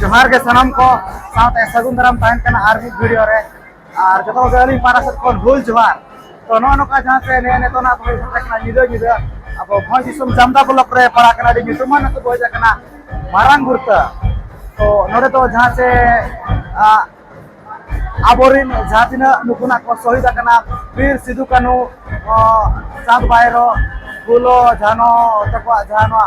ᱡᱚᱦᱟᱨ ᱜᱮ ᱥᱟᱱᱟᱢ ᱠᱚ ᱥᱟᱶᱛᱮ ᱥᱟᱹᱜᱩᱱ ᱫᱟᱨᱟᱢ ᱛᱟᱦᱮᱱ ᱠᱟᱱᱟ ᱟᱨ ᱢᱤᱫ ᱵᱷᱤᱰᱤᱭᱳ ᱨᱮ ᱟᱨ ᱡᱚᱛᱚ ᱠᱚᱜᱮ ᱟᱹᱞᱤᱧ ᱯᱟᱦᱴᱟ ᱥᱮᱫ ᱠᱷᱚᱱ ᱦᱩᱞ ᱡᱚᱦᱟᱨ ᱛᱚ ᱱᱚᱜᱼᱚ ᱱᱚᱝᱠᱟ ᱡᱟᱦᱟᱸ ᱥᱮ ᱱᱮ ᱱᱤᱛᱚᱜ ᱱᱟᱜ ᱵᱷᱚᱭ ᱥᱮᱴᱮᱨ ᱠᱟᱱᱟ ᱧᱤᱫᱟᱹ ᱧᱤᱫᱟᱹ ᱟᱵᱚ ᱵᱷᱚᱸᱡᱽ ᱫᱤᱥᱚᱢ ᱡᱟᱢᱫᱟ ᱵᱞᱚᱠ ᱨᱮ ᱯᱟᱲᱟᱜ ᱠᱟᱱᱟ ᱟᱹᱰᱤ ᱧᱩᱛᱩᱢᱟᱱ ᱟᱹᱛᱩ ᱵᱷᱚᱸᱡᱽ ᱠᱟᱱᱟ ᱢᱟᱨᱟᱝ ᱜᱩᱨᱛᱟᱹ ᱛᱚ ᱱᱚᱰᱮ ᱫᱚ ᱡᱟᱦᱟᱸ ᱥᱮ ᱟᱵᱚᱨᱤᱱ ᱡᱟᱦᱟᱸ ᱛᱤᱱᱟᱹᱜ ᱱᱩᱠᱩᱱᱟᱜ ᱠᱚ ᱥᱚᱦᱤᱫ ᱟᱠᱟᱱᱟ ᱵᱤᱨ ᱥᱤᱫᱩ ᱠᱟᱹᱱᱩ ᱪᱟᱸᱫᱽ ᱵᱟᱭᱨᱚ ᱯᱷᱩᱞᱚ ᱡᱷᱟᱱᱚ ᱛᱟᱠᱚᱣᱟᱜ ᱡᱟᱦᱟᱸ ᱱᱚᱣᱟ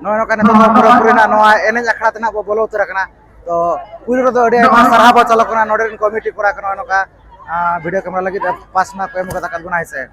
ᱱᱚᱜᱼᱚᱭ ᱱᱚᱝᱠᱟ ᱱᱤᱛᱚᱜ ᱫᱚ ᱯᱩᱨᱟᱹᱯᱩᱨᱤ ᱱᱟᱜ ᱱᱚᱣᱟ ᱮᱱᱮᱡ ᱟᱠᱷᱲᱟ ᱛᱮ ᱱᱟᱜ ᱵᱚ ᱵᱚᱞᱚ ᱩᱛᱟᱹᱨ ᱟᱠᱟᱱᱟ ᱛᱚ ᱠᱩᱲᱤ ᱨᱮᱫᱚ ᱟᱹᱰᱤ ᱟᱭᱢᱟ ᱥᱟᱨᱦᱟᱣ ᱵᱚ ᱪᱟᱞ ᱟᱠᱚ ᱠᱟᱱᱟ ᱱᱚᱰᱮ ᱨᱮᱱ ᱠᱚᱢᱤᱴᱤ ᱠᱚᱲᱟ ᱠᱚ ᱱᱚᱜᱼᱚᱭ ᱱᱚᱝᱠᱟ ᱵᱷᱤᱰᱤᱭᱳ ᱠᱮᱢᱮᱨᱟ ᱞᱟᱹᱜᱤᱫ ᱯᱟᱥ ᱱᱟᱜ ᱠᱚ ᱮᱢ ᱠᱟᱫᱟ ᱵᱚᱱᱟ ᱦᱮᱸ ᱥᱮ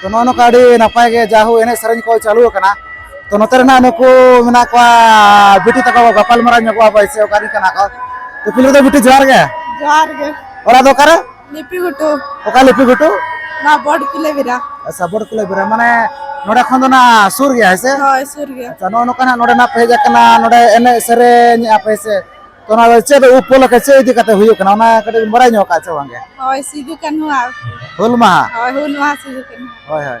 ᱛᱚ ᱱᱚᱜᱼᱚ ᱱᱚᱝᱠᱟ ᱟᱹᱰᱤ ᱱᱟᱯᱟᱭ ᱜᱮ ᱡᱟᱦᱳ ᱮᱱᱮᱡ ᱥᱮᱨᱮᱧ ᱠᱚ ᱪᱟᱹᱞᱩ ᱟᱠᱟᱱᱟ ᱛᱚ ᱱᱚᱛᱮ ᱨᱮᱱᱟᱜ ᱱᱩᱠᱩ ᱢᱮᱱᱟᱜ ᱠᱚᱣᱟ ᱵᱤᱴᱤ ᱛᱟᱠᱚ ᱜᱟᱯᱟᱞᱢᱟᱨᱟᱣ ᱧᱚᱜᱚᱜᱼᱟ ᱵᱚᱭᱥᱮ ᱚᱠᱟᱨᱮᱱ ᱠᱟᱱᱟ ᱠᱚ ᱛᱚ ᱯᱳᱭᱞᱳ ᱫᱚ ᱵᱤᱴᱤ ᱡᱚᱦᱟᱨ ᱜᱮ ᱡᱚᱦᱟᱨ ᱜᱮ ᱚᱲᱟᱜ ᱫᱚ ᱚᱠᱟᱨᱮ ᱞᱤᱯᱤ ᱜᱷᱩᱴᱩ ᱚᱠᱟ ᱞᱤᱯᱤ ᱜᱷᱩᱴᱩ ᱱᱚᱣᱟ ᱵᱚᱰ ᱠᱤᱞᱮ ᱵᱤᱨᱟ ᱟᱪᱪᱷᱟ ᱵᱚᱰ ᱠᱤᱞᱮ ᱵᱤᱨᱟ ᱢᱟᱱᱮ ᱱᱚᱰᱮ ᱠᱷᱚᱱ ᱫᱚ ᱱᱟ ᱥᱩᱨ ᱜᱮᱭᱟ ᱦᱮᱸ ᱥᱮ ᱦᱳᱭ ᱥᱩᱨ ᱜᱮᱭᱟ ᱟᱪᱪᱷᱟ ᱱᱚᱜᱼᱚ ᱱᱚᱝᱠᱟ ᱱᱟᱜ ᱱᱚᱰᱮ ᱱᱟᱜ ᱯᱮ ᱦᱮᱡ ᱟᱠᱟᱱᱟ ᱱᱚᱰᱮ ᱮᱱᱮᱡ ᱥᱮᱨᱮᱧ ᱟᱯᱮ ᱥᱮ ᱛᱚ ᱚᱱᱟ ᱫᱚ ᱪᱮᱫ ᱩᱯᱚᱞᱚᱠᱷᱮ ᱪᱮᱫ ᱤᱫᱤ ᱠᱟᱛᱮ ᱦᱩᱭᱩᱜ ᱠᱟᱱᱟ ᱚᱱᱟ ᱠᱟᱹᱴᱤᱡ ᱵᱟᱲᱟᱭ ᱧᱚᱜ ᱠᱟᱜ ᱪᱮ ᱵᱟᱝᱜᱮ ᱦᱳᱭ ᱥᱤᱫᱩ ᱠᱟᱹᱱᱦᱩ ᱦᱩᱞ ᱢᱟᱦᱟ ᱦᱳᱭ ᱦᱩᱞ ᱢᱟᱦᱟ ᱥᱤᱫᱩ ᱠᱟᱹᱱᱦᱩ ᱦᱳᱭ ᱦᱳᱭ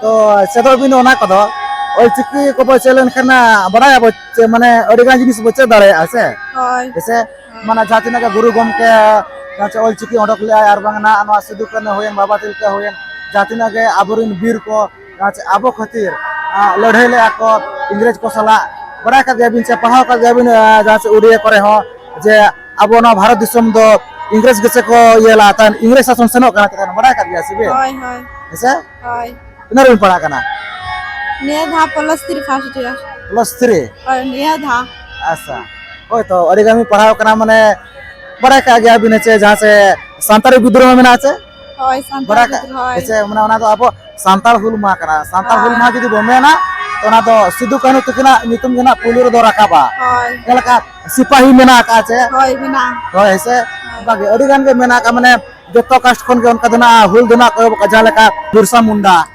ᱛᱚ ᱪᱮᱫᱚᱜ ᱵᱤᱱ ᱚᱱᱟ ᱠᱚᱫᱚ ᱚᱞ ᱪᱤᱠᱤ ᱠᱚᱵᱚ ᱪᱮᱫ ᱞᱮᱱᱠᱷᱟᱱ ᱵᱟᱰᱟᱭᱟᱵᱚ ᱢᱟᱱᱮ ᱟᱹᱰᱤ ᱜᱟᱱ ᱡᱤᱱᱤᱥ ᱵᱚ ᱪᱮᱫ ᱫᱟᱲᱮᱭᱟᱜᱼᱟ ᱥᱮ ᱦᱮᱸᱥᱮ ᱢᱟᱱᱮ ᱡᱟᱦᱟᱸ ᱛᱤᱱᱟᱹᱜ ᱜᱮ ᱜᱩᱨᱩ ᱜᱚᱢᱠᱮ ᱡᱟᱦᱟᱸ ᱚᱞ ᱪᱤᱠᱤ ᱚᱰᱚᱠ ᱞᱮᱫᱟᱭ ᱟᱨ ᱵᱟᱝ ᱱᱟᱦᱟᱜ ᱱᱚᱣᱟ ᱥᱤᱫᱩ ᱠᱟᱹᱱᱦᱩ ᱦᱩᱭᱮᱱ ᱵᱟᱵᱟ ᱛᱤᱞᱠᱟᱹ ᱦᱩᱭᱮᱱ ᱡᱟᱦᱟᱸ ᱛᱤᱱᱟᱹᱜ ᱜᱮ ᱟᱵᱚᱨᱮᱱ ᱵᱤᱨ ᱠᱚ ᱟᱵᱚ ᱠᱷᱟᱹᱛᱤᱨ ᱞᱟᱹᱲᱦᱟᱹᱭ ᱞᱮᱫᱼᱟ ᱠᱚ ᱤᱝᱨᱮᱡᱽ ᱠᱚ ᱥᱟᱞᱟᱜ ᱵᱟᱰᱟᱭ ᱠᱟᱜ ᱜᱮᱭᱟᱵᱤᱱ ᱥᱮ ᱯᱟᱲᱦᱟᱣ ᱠᱟᱜ ᱜᱮᱭᱟᱵᱤᱱ ᱡᱟᱦᱟᱸ ᱥᱮᱫ ᱩᱰᱤᱭᱟ ᱠᱚᱨᱮ ᱦᱚᱸ ᱡᱮ ᱟᱵᱚ ᱱᱚᱣᱟ ᱵᱷᱟᱨᱚᱛ ᱫᱤᱥᱚᱢ ᱫᱚ ᱤᱝᱨᱮᱡᱽ ᱜᱮᱥᱮ ᱠᱚ ᱤᱭᱟᱹ ᱞᱟᱜᱼᱟ ᱛᱟᱦᱮᱱ ᱤᱝᱨᱮᱡᱽ ᱥᱟᱥᱚᱱ ᱥᱮᱱᱚᱜ ᱠᱟᱱᱟ ᱛᱟᱦᱮᱱ ᱵᱟᱰᱟᱭ ᱠᱟᱜ ᱜᱮᱭᱟ ᱥᱮ ᱵᱤᱱ ᱦᱳᱭ ᱦᱳᱭ ᱦᱮᱸᱥᱮ ᱦᱳᱭ ᱛᱤᱱᱟᱹᱜ ᱨᱮᱵᱤᱱ ᱯᱟᱲᱦᱟᱜ ᱠᱟᱱᱟ ᱱᱤᱭᱟᱹ ᱫᱷᱟᱣ plus three first year plus three ᱦᱳᱭ ᱱᱤᱭᱟᱹ ᱫᱷᱟᱣ ᱟᱪᱪᱷᱟ ᱦᱳᱭ ᱛᱚ ᱟᱹᱰᱤ ᱜᱟᱱ ᱵᱤᱱ ᱯᱟᱲᱦᱟᱣ ᱠᱟᱱᱟ ᱢᱟᱱᱮ ᱵᱟᱰᱟᱭ ᱠᱟᱜ ᱜᱮᱭᱟ ᱵᱤᱱ ᱦᱮᱸᱥᱮ ᱡᱟᱦᱟᱸ ᱥᱮ ᱥᱟᱱᱛᱟᱲᱤ ᱵᱤᱫᱽᱨᱳᱦᱚ ᱢᱮᱱᱟᱜᱼᱟ ᱥᱮ ᱦᱳᱭ ᱥᱟᱱᱛᱟᱲ ᱵᱟᱰᱟᱭ ᱠᱟᱜ ᱜᱤᱫᱽᱨᱟᱹ ᱦᱳᱭ ᱦᱮᱸᱥᱮ ᱢᱟᱱᱮ ᱚᱱᱟ ᱫᱚ ᱟᱵᱚ ᱥᱟᱱᱛᱟᱲ ᱦᱩᱞ ᱢᱟᱦᱟ ᱠᱟᱱᱟ ᱥᱟᱱᱛᱟᱲ ᱦᱩᱞ ᱢᱟᱦᱟ ᱡᱩᱫᱤ ᱵᱚ ᱢᱮᱱᱟ ᱛᱚ ᱚᱱᱟ ᱫᱚ ᱥᱤᱫᱩ ᱠᱟᱹᱱᱦᱩ ᱛᱟᱹᱠᱤᱱᱟᱜ ᱧᱩᱛᱩᱢ ᱜᱮ ᱱᱟᱜ ᱯᱩᱭᱞᱩ ᱨᱮᱫᱚ ᱨᱟᱠᱟᱵᱟ ᱦᱳᱭ ᱪᱮᱫ ᱞᱮᱠᱟ ᱥᱤᱯᱟᱦᱤ ᱢᱮᱱᱟᱜ ᱟᱠᱟᱫᱼᱟ ᱪᱮ ᱦᱳᱭ ᱢᱮᱱᱟᱜᱼᱟ ᱦᱳᱭ ᱦᱮᱸᱥᱮ ᱚᱱᱠᱟᱜᱮ ᱟᱹᱰᱤ ᱜᱟᱱ ᱜᱮ ᱢᱮᱱᱟᱜ ᱟᱠᱟᱫ ᱢᱟᱱᱮ ᱡᱚᱛᱚ ᱠᱟᱥᱴ ᱠᱷᱚᱱ ᱜᱮ ᱚᱱᱠᱟ ᱫᱚ ᱱᱟᱜ ᱦᱩᱞ ᱫᱚ ᱱᱟᱜ ᱠᱚ ᱮᱦᱚᱵ ᱟᱠᱟᱫᱼᱟ ᱡᱟᱦᱟᱸ ᱞᱮᱠᱟ ᱵᱤᱨᱥᱟ ᱢᱩᱱᱰᱟ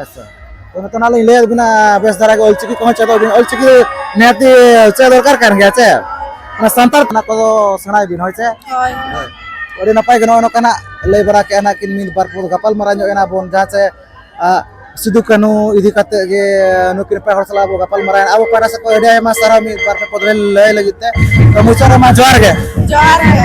ᱟᱪᱪᱷᱟ ᱛᱚ ᱱᱤᱛᱚᱜ ᱱᱟᱜ ᱞᱤᱧ ᱞᱟᱹᱭᱟᱫ ᱵᱤᱱᱟ ᱵᱮᱥ ᱫᱷᱟᱨᱟ ᱜᱮ ᱚᱞᱪᱤᱠᱤ ᱠᱚᱦᱚᱸ ᱪᱮᱫᱚᱜ ᱵᱤᱱ ᱚᱞᱪᱤᱠᱤ ᱱᱤᱦᱟᱹᱛᱤ ᱪᱮᱫ ᱫᱚᱨᱠᱟᱨ ᱠᱟᱱ ᱜᱮᱭᱟ ᱪᱮ ᱚᱱᱟ ᱥᱟᱱᱛᱟᱲ ᱚᱱᱟ ᱠᱚᱫᱚ ᱥᱮᱬᱟᱭ ᱵᱤᱱ ᱦᱳᱭ ᱪᱮ ᱦᱳᱭ ᱟᱹᱰᱤ ᱱᱟᱯᱟᱭ ᱜᱮ ᱱᱚᱜᱼᱚᱭ ᱱᱚᱝᱠᱟᱱᱟᱜ ᱞᱟᱹᱭ ᱵᱟᱲᱟ ᱠᱮᱜᱼᱟ ᱱᱟᱜ ᱠᱤᱱ ᱢᱤᱫ ᱵᱟᱨ ᱠᱚ ᱜᱟᱯᱟᱞ ᱢᱟᱨᱟᱣ ᱧᱚᱜ ᱮᱱᱟ ᱵᱚᱱ ᱡᱟᱦᱟᱸ ᱪᱮ ᱥᱤᱫᱩ ᱠᱟᱹᱱᱩ ᱤᱫᱤ ᱠᱟᱛᱮ ᱜᱮ ᱱᱩᱠᱤᱱ ᱱᱟᱯᱟᱭ ᱦᱚᱲ ᱥᱟᱞᱟᱜ ᱵᱚ ᱜᱟᱯᱟᱞ ᱢᱟᱨᱟᱣ ᱮᱱᱟ ᱟᱵᱚ ᱯᱟᱦᱴᱟ ᱥᱮᱫ ᱠᱷᱚᱱ ᱟᱹᱰᱤ ᱟᱭᱢᱟ ᱥᱟᱨᱦᱟᱣ ᱢᱤᱫ ᱵᱟᱨ ᱯᱮ ᱯᱚᱫ ᱞᱟᱹᱭ ᱞᱟᱹᱜᱤᱫ ᱛᱮ ᱛᱚ ᱢᱩᱪᱟᱹᱫ ᱨᱮᱢᱟ ᱡᱚᱦᱟᱨ ᱜᱮ ᱡᱚᱦᱟᱨ ᱜᱮ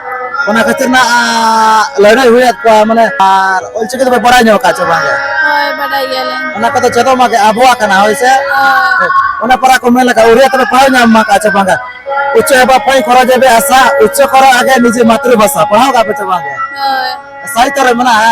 ᱚᱱᱟ ᱠᱷᱟᱹᱛᱤᱨ ᱱᱟᱜ ᱞᱟᱹᱲᱦᱟᱹᱭ ᱦᱩᱭᱟᱫ ᱠᱚᱣᱟ ᱢᱟᱱᱮ ᱟᱨ ᱚᱞᱪᱤᱠᱤ ᱫᱚᱯᱮ ᱵᱟᱲᱟᱭ ᱧᱚᱜ ᱠᱟᱜ ᱪᱮ ᱵᱟᱝ ᱦᱳᱭ ᱵᱟᱰᱟᱭ ᱜᱮᱭᱟᱞᱮ ᱚᱱᱟ ᱠᱚᱫᱚ ᱪᱮᱫᱚᱜ ᱢᱟ ᱟᱵᱚᱣᱟᱜ ᱠᱟᱱᱟ ᱦᱳᱭ ᱥᱮ ᱚᱱᱟ ᱯᱟᱨᱟ ᱠᱚ ᱢᱮᱱ ᱞᱮᱠᱟ ᱩᱨᱤᱭᱟ ᱛᱮᱯᱮ ᱯᱟᱲᱦᱟᱣ ᱧᱟᱢ ᱢᱟ ᱠᱟᱜ ᱪᱮ ᱵᱟᱝ ᱩᱪᱪᱚ ᱮᱵᱟ ᱯᱟᱹᱭ ᱠᱚᱨᱚ ᱡᱮᱵᱮ ᱟᱥᱟ ᱩᱪᱪᱚ ᱠᱚᱨᱚ ᱟᱜᱮ ᱱᱤᱡᱮ ᱢᱟᱛᱨᱤᱵᱷᱟᱥᱟ ᱯᱟᱲᱦᱟᱣ ᱠᱟᱜ ᱯᱮ ᱪᱮ ᱵᱟᱝ ᱦᱳᱭ ᱥᱟᱭᱛᱚ ᱨᱮ ᱢᱮᱱᱟᱜᱼᱟ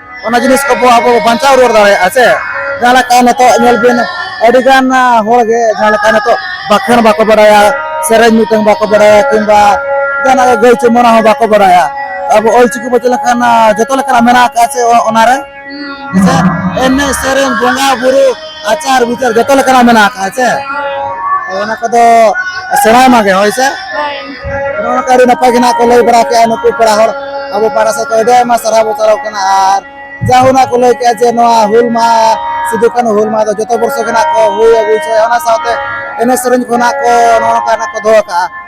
ᱚᱱᱟ ᱡᱤᱱᱤᱥ ᱠᱚ ᱟᱵᱚ ᱵᱟᱧᱪᱟᱣ ᱨᱩᱣᱟᱹᱲ ᱫᱟᱲᱮᱭᱟᱜᱼᱟ ᱥᱮ ᱡᱟᱦᱟᱸ ᱞᱮᱠᱟ ᱱᱤᱛᱚᱜ ᱧᱮᱞ ᱵᱤᱱ ᱟᱹᱰᱤ ᱜᱟᱱ ᱦᱚᱲ ᱜᱮ ᱡᱟᱦᱟᱸ ᱞᱮᱠᱟ ᱱᱤᱛᱚᱜ ᱵᱟᱠᱷᱮᱬ ᱵᱟᱠᱚ ᱵᱟᱲᱟᱭᱟ ᱥᱮᱨᱮᱧ ᱢᱤᱫᱴᱟᱝ ᱵᱟᱠᱚ ᱵᱟᱲᱟᱭᱟ ᱠᱤᱝᱵᱟ ᱡᱟᱦᱟᱱᱟᱜ ᱜᱮ ᱜᱟᱹᱭ ᱪᱩᱢᱟᱹᱲᱟ ᱦᱚᱸ ᱵᱟᱠᱚ ᱵᱟᱲᱟᱭᱟ ᱟᱵᱚ ᱚᱞᱪᱤᱠᱤ ᱵᱚ ᱪᱮᱫ ᱞᱮᱠᱷᱟᱱ ᱡᱚᱛᱚ ᱞᱮᱠᱟᱱᱟᱜ ᱢᱮᱱᱟᱜ ᱟᱠᱟᱫᱼᱟ ᱥᱮ ᱚᱱᱟᱨᱮ ᱮᱱᱮᱡ ᱥᱮᱨᱮᱧ ᱵᱚᱸᱜᱟ ᱵᱩᱨᱩ ᱟᱪᱟᱨ ᱵᱤᱪᱟᱨ ᱡᱚᱛᱚ ᱞᱮᱠᱟᱱᱟᱜ ᱢᱮᱱᱟᱜ ᱟᱠᱟᱫ ᱥᱮ ᱚᱱᱟ ᱠᱚᱫᱚ ᱥᱮᱬᱟᱭ ᱢᱟᱜᱮ ᱦᱳᱭ ᱥᱮ ᱱᱚᱜᱼᱚ ᱱᱚᱝᱠᱟ ᱟᱹᱰᱤ ᱱᱟᱯᱟᱭ ᱜᱮ ᱱᱟᱜ ᱠᱚ ᱞᱟᱹᱭ ᱵᱟᱲᱟ ᱠᱮᱜᱼᱟ ᱱᱩᱠᱩ ᱯᱮᱲᱟ ᱦᱚᱲ ᱟᱵᱚ ᱯᱟᱦᱴᱟ ᱥᱮᱫ ᱠᱷᱚᱱ ᱟᱹᱰᱤ ᱟᱭᱢᱟ ᱥᱟᱨᱦᱟᱣ ᱵᱚ ᱪᱟᱞᱟᱣ ᱠᱟᱱᱟ ᱟᱨ ᱡᱟᱦᱳ ᱱᱟᱜ ᱠᱚ ᱞᱟᱹᱭ ᱠᱮᱜᱼᱟ ᱡᱮ ᱱᱚᱣᱟ ᱦᱩᱞ ᱢᱟᱦᱟ ᱥᱤᱫᱩ ᱠᱟᱹᱱᱦᱩ ᱦᱩᱞ ᱢᱟᱦᱟ ᱫᱚ ᱡᱚᱛᱚ ᱵᱚᱨᱥᱚ ᱜᱮ ᱱᱟᱜ ᱠᱚ ᱦᱩᱭ ᱟᱹᱜᱩ ᱦᱚᱪᱚᱭᱟ ᱚᱱᱟ ᱥᱟᱶᱛᱮ ᱮᱱᱮᱡ ᱥᱮᱨᱮᱧ ᱠᱚ ᱱᱟᱜ ᱠᱚ ᱱᱚᱜᱼᱚ ᱱᱚᱝᱠᱟ ᱱᱟᱜ ᱠᱚ ᱫᱚᱦᱚ ᱠᱟᱜᱼᱟ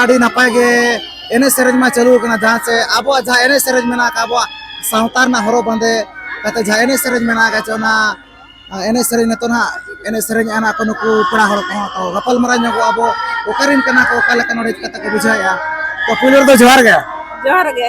ᱟᱹᱰᱤ ᱱᱟᱯᱟᱭ ᱜᱮ ᱮᱱᱮᱡ ᱥᱮᱨᱮᱧ ᱢᱟ ᱪᱟᱹᱞᱩ ᱟᱠᱟᱱᱟ ᱡᱟᱦᱟᱸ ᱥᱮ ᱟᱵᱚᱣᱟᱜ ᱡᱟᱦᱟᱸ ᱮᱱᱮᱡ ᱥᱮᱨᱮᱧ ᱢᱮᱱᱟᱜ ᱟᱠᱟᱫ ᱟᱵᱚᱣᱟᱜ ᱥᱟᱶᱛᱟ ᱨᱮᱱᱟᱜ ᱦᱚᱨᱚᱜ ᱵᱟᱸᱫᱮ ᱠᱟᱛᱮ ᱡᱟᱦᱟᱸ ᱮᱱᱮᱡ ᱥᱮᱨᱮᱧ ᱢᱮᱱᱟᱜ ᱟᱠᱟᱫ ᱚᱱᱟ ᱮᱱᱮᱡ ᱥᱮᱨᱮᱧ ᱱᱤᱛᱚᱜ ᱱᱟᱜ ᱮᱱᱮᱡ ᱥᱮᱨᱮᱧ ᱟᱱᱟ ᱠᱚ ᱱᱩᱠᱩ ᱯᱮᱲᱟ ᱦᱚᱲ ᱠᱚᱦᱚᱸ ᱛᱚ ᱜᱟᱯᱟᱞ ᱢᱟᱨᱟᱣ ᱧᱚᱜᱚᱜ ᱟᱵᱚ ᱚᱠᱟᱨᱮᱱ ᱠᱟᱱᱟ ᱠᱚ ᱚᱠᱟ ᱞᱮᱠᱟ ᱱᱚᱰᱮ ᱠᱟᱛᱮ ᱠᱚ ᱵᱩᱡᱷᱟᱹᱣᱮᱜᱼᱟ ᱛᱚ ᱯᱩᱭᱞᱩ ᱨᱮᱫᱚ ᱡᱚᱦᱟᱨ ᱜᱮ ᱡᱚᱦᱟᱨ ᱜᱮ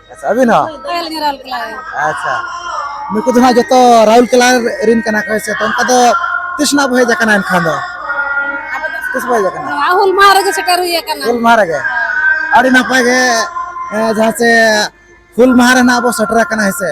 ᱟᱪᱪᱷᱟ ᱟᱹᱵᱤᱱ ᱦᱚᱸ ᱟᱪᱪᱷᱟ ᱱᱩᱠᱩ ᱫᱚ ᱦᱟᱸᱜ ᱡᱚᱛᱚ ᱨᱟᱦᱩᱞ ᱠᱮᱞᱟ ᱨᱤᱱ ᱠᱟᱱᱟ ᱠᱚ ᱥᱮ ᱛᱚ ᱚᱱᱠᱟ ᱫᱚ ᱛᱤᱥ ᱱᱟᱜ ᱵᱚ ᱦᱮᱡ ᱟᱠᱟᱱᱟ ᱮᱱᱠᱷᱟᱱ ᱫᱚ ᱛᱤᱥ ᱵᱚ ᱦᱮᱡ ᱟᱠᱟᱱᱟ ᱦᱩᱞ ᱢᱟᱦᱟ ᱨᱮᱜᱮ ᱥᱮᱴᱮᱨ ᱦᱩᱭ ᱟᱠᱟᱱᱟ ᱦᱩᱞ ᱢᱟᱦᱟ ᱨᱮᱜᱮ ᱟᱹᱰᱤ ᱱᱟᱯᱟᱭ ᱜᱮ ᱡᱟᱦᱟᱸ ᱥᱮ ᱦᱩᱞ ᱢᱟᱦᱟ ᱨᱮᱱᱟᱜ ᱵᱚ ᱥᱮᱴᱮᱨ ᱟᱠᱟᱱᱟ ᱦᱮᱸ ᱥᱮ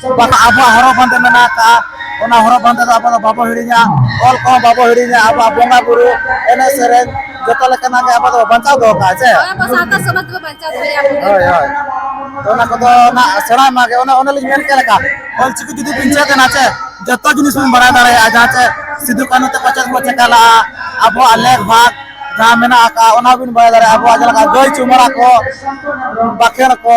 ᱵᱟᱠᱷᱟᱱ ᱟᱵᱚᱣᱟᱜ ᱦᱚᱨᱚᱜ ᱵᱟᱸᱫᱮ ᱢᱮᱱᱟᱜ ᱟᱠᱟᱫᱼᱟ ᱚᱱᱟ ᱦᱚᱨᱚᱜ ᱵᱟᱸᱫᱮ ᱫᱚ ᱟᱵᱚ ᱫᱚ ᱵᱟᱵᱚ ᱦᱤᱲᱤᱧᱟ ᱚᱞ ᱠᱚᱦᱚᱸ ᱵᱟᱵᱚ ᱦᱤᱲᱤᱧᱟ ᱟᱵᱚᱣᱟᱜ ᱵᱚᱸᱜᱟ ᱵᱩᱨᱩ ᱮᱱᱮᱡ ᱥᱮᱨᱮᱧ ᱡᱚᱛᱚ ᱞᱮᱠᱟᱱᱟᱜ ᱜᱮ ᱟᱵᱚ ᱫᱚ ᱵᱟᱧᱪᱟᱣ ᱫᱚᱦᱚ ᱠᱟᱜᱼᱟ ᱪᱮ ᱦᱳᱭ ᱦᱳᱭ ᱚᱱᱟ ᱠᱚᱫᱚ ᱱᱟᱜ ᱥᱮᱬᱟᱭ ᱢᱟᱜᱮ ᱚᱱᱟ ᱚᱱᱟ ᱞᱤᱧ ᱢᱮᱱ ᱠᱮᱫ ᱞᱮᱠᱟ ᱚᱞ ᱪᱤᱠᱤ ᱡᱩᱫᱤ ᱵᱤᱱ ᱪᱮᱫ ᱮᱱᱟ ᱪᱮ ᱡᱚᱛᱚ ᱡᱤᱱᱤᱥ ᱵᱚᱱ ᱵᱟᱲᱟᱭ ᱫᱟᱲᱮᱭᱟᱜᱼᱟ ᱡᱟᱦᱟᱸ ᱪᱮ ᱥᱤᱫᱩ ᱠᱟᱹᱱᱩ ᱛᱮᱠᱚ ᱪᱮᱫ ᱠᱚ ᱪᱮᱠᱟ ᱞᱟᱜᱼᱟ ᱟᱵᱚᱣᱟᱜ ᱞᱮᱠ ᱵᱷᱟᱜᱽ ᱡᱟᱦᱟᱸ ᱢᱮᱱᱟᱜ ᱟᱠᱟᱫᱼᱟ ᱚᱱᱟ ᱵᱤᱱ ᱵᱟᱲᱟᱭ ᱫᱟᱲᱮᱭᱟᱜᱼᱟ ᱟᱵᱚᱣᱟᱜ ᱡᱮᱞᱮᱠᱟ ᱜᱟᱹᱭ ᱪᱩᱢᱟᱹᱲᱟ ᱠᱚ ᱵᱟᱠᱷᱮᱬ ᱠᱚ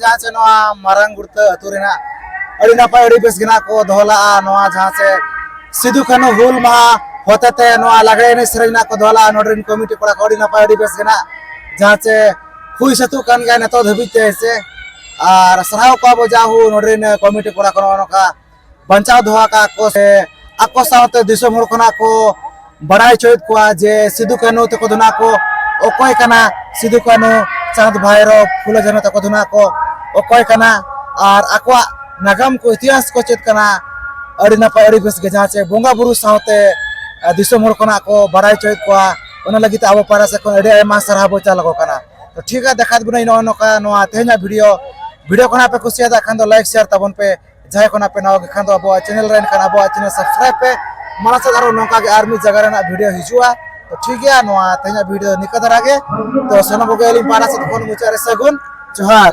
ᱡᱟᱦᱟᱸ ᱥᱮ ᱱᱚᱣᱟ ᱢᱟᱨᱟᱝ ᱜᱩᱲᱛᱟᱹ ᱟᱹᱛᱩ ᱨᱮᱱᱟᱜ ᱟᱹᱰᱤ ᱱᱟᱯᱟᱭ ᱟᱹᱰᱤ ᱵᱮᱥ ᱜᱮᱱᱟᱜ ᱠᱚ ᱫᱚᱦᱚ ᱞᱟᱜᱼᱟ ᱱᱚᱣᱟ ᱡᱟᱦᱟᱸ ᱥᱮ ᱥᱤᱫᱩ ᱠᱟᱹᱱᱩ ᱦᱩᱞ ᱢᱟᱦᱟ ᱦᱚᱛᱮᱛᱮ ᱱᱚᱣᱟ ᱞᱟᱜᱽᱲᱮ ᱮᱱᱮᱡ ᱥᱮᱨᱮᱧ ᱨᱮᱱᱟᱜ ᱠᱚ ᱫᱚᱦᱚ ᱞᱟᱜᱼᱟ ᱱᱚᱰᱮ ᱨᱮᱱ ᱠᱚᱢᱤᱴᱤ ᱠᱚᱲᱟ ᱠᱚ ᱟᱹᱰᱤ ᱱᱟᱯᱟᱭ ᱟᱹᱰᱤ ᱵᱮᱥ ᱜᱮᱱᱟᱜ ᱡᱟᱦᱟᱸ ᱥᱮ ᱦᱩᱭ ᱥᱟᱹᱛᱚᱜ ᱠᱟᱱ ᱜᱮᱭᱟ ᱱᱤᱛᱚᱜ ᱫᱷᱟᱹᱵᱤᱡ ᱛᱮ ᱥᱮ ᱟᱨ ᱥᱟᱨᱦᱟᱣ ᱠᱚᱣᱟ ᱵᱚ ᱡᱟ ᱦᱩ ᱱᱚᱰᱮ ᱨᱮᱱ ᱠᱚᱢᱤᱴᱤ ᱠᱚᱲᱟ ᱠᱚ ᱱᱚᱜᱼᱚ ᱱᱚᱝᱠᱟ ᱵᱟᱧᱪᱟᱣ ᱫᱚᱦᱚ ᱟᱠᱟᱫ ᱠᱚ ᱥᱮ ᱟᱠᱚ ᱥᱟᱶᱛᱮ ᱫᱤᱥᱚᱢ ᱦᱚᱲ ᱠᱷᱚᱱᱟᱜ ᱠᱚ ᱵᱟᱲᱟᱭ ᱦᱚᱪᱚᱭᱮᱫ ᱠᱚᱣᱟ ᱡᱮ ᱥᱤᱫᱩ ᱠᱟᱹᱱᱦᱩ ᱛᱟᱠᱚ ᱫᱚ ᱱᱟᱜ ᱠᱚ ᱚᱠᱚᱭ ᱠᱟᱱᱟ ᱥᱤᱫᱩ ᱠᱟᱹᱱᱦᱩ ᱪᱟᱸᱫᱽ ᱵᱷᱟᱭᱨᱚ ᱯᱷᱩᱞᱚ ᱡᱷᱟᱱᱚ ᱛᱟᱠᱚ ᱫᱚ ᱱᱟᱜ ᱠᱚ ᱚᱠᱚᱭ ᱠᱟᱱᱟ ᱟᱨ ᱟᱠᱚᱣᱟᱜ ᱱᱟᱜᱟᱢ ᱠᱚ ᱤᱛᱤᱦᱟᱥ ᱠᱚ ᱪᱮᱫ ᱠᱟᱱᱟ ᱟᱹᱰᱤ ᱱᱟᱯᱟᱭ ᱟᱹᱰᱤ ᱵᱮᱥ ᱜᱮ ᱡᱟᱦᱟᱸ ᱪᱮ ᱵᱚᱸᱜᱟ ᱵᱩᱨᱩ ᱥᱟᱶᱛᱮ ᱫᱤᱥᱚᱢ ᱦᱚᱲ ᱠᱷᱚᱱᱟᱜ ᱠᱚ ᱵᱟᱲᱟᱭ ᱦᱚᱪᱚᱭᱮᱫ ᱠᱚᱣᱟ ᱚᱱᱟ ᱞᱟᱹᱜᱤᱫ ᱛᱮ ᱟᱵᱚ ᱯᱟᱦᱴᱟ ᱥᱮᱫ ᱠᱷᱚᱱ ᱟᱹᱰᱤ ᱟᱭᱢᱟ ᱥᱟᱨᱦᱟᱣ ᱵᱚ ᱪᱟᱞ ᱟᱠᱚ ᱠᱟᱱᱟ ᱛᱚ ᱴᱷᱤᱠ ᱜᱮᱭᱟ ᱫᱮᱠᱷᱟᱣ ᱵᱚᱱᱟᱹᱧ ᱱᱚᱜᱼᱚ ᱱᱚᱝᱠᱟ ᱱᱚᱣᱟ ᱛᱮᱦᱮᱧᱟᱜ ᱵᱷᱤᱰᱤᱭᱳ ᱵᱷᱤᱰᱤᱭᱳ ᱠᱷᱚᱱᱟᱜ ᱯᱮ ᱠᱩᱥᱤᱭᱟᱫᱟ ᱠᱷᱟᱱ ᱫᱚ ᱞᱟᱭᱤᱠ ᱥᱮᱭᱟᱨ ᱛᱟᱵᱚᱱ ᱯᱮ ᱡᱟᱦᱟᱸᱭ ᱠᱷᱚᱱᱟᱜ ᱯᱮ ᱱᱟᱣᱟ ᱠᱷᱟᱱ ᱫᱚ ᱟᱵᱚᱣᱟᱜ ᱪᱮᱱᱮᱞ ᱨᱮ ᱮᱱᱠᱷᱟᱱ ᱟᱵᱚᱣᱟᱜ ᱪᱮᱱᱮᱞ ᱥᱟᱵᱥᱠᱨᱟᱭᱤᱵ ᱯᱮ ᱢᱟᱲᱟᱝ ᱥᱮᱫ ᱟᱨᱚ ᱱᱚᱝᱠᱟ ᱜᱮ ᱟᱨ ᱢᱤᱫ ᱡᱟᱭᱜᱟ ᱨᱮᱱᱟᱜ ᱵᱷᱤᱰᱤᱭᱳ ᱦᱤᱡᱩᱜᱼᱟ ᱛᱚ ᱴᱷᱤᱠ ᱜᱮᱭᱟ ᱱᱚᱣᱟ ᱛᱮᱦᱮᱧᱟᱜ ᱵᱷᱤᱰᱤᱭᱳ ᱱᱤᱠᱟᱹ ᱫᱷᱟᱨᱟ ᱜᱮ ᱛᱚ ᱥᱟᱱᱟᱢ ᱠᱚᱜᱮ ᱟᱹᱞᱤᱧ ᱯᱟᱦᱴᱟ ᱥᱮᱫ ᱠᱷᱚᱱ ᱢᱩᱪᱟᱹᱫ ᱨᱮ ᱥᱟᱹᱜᱩᱱ ᱡᱚᱦᱟᱨ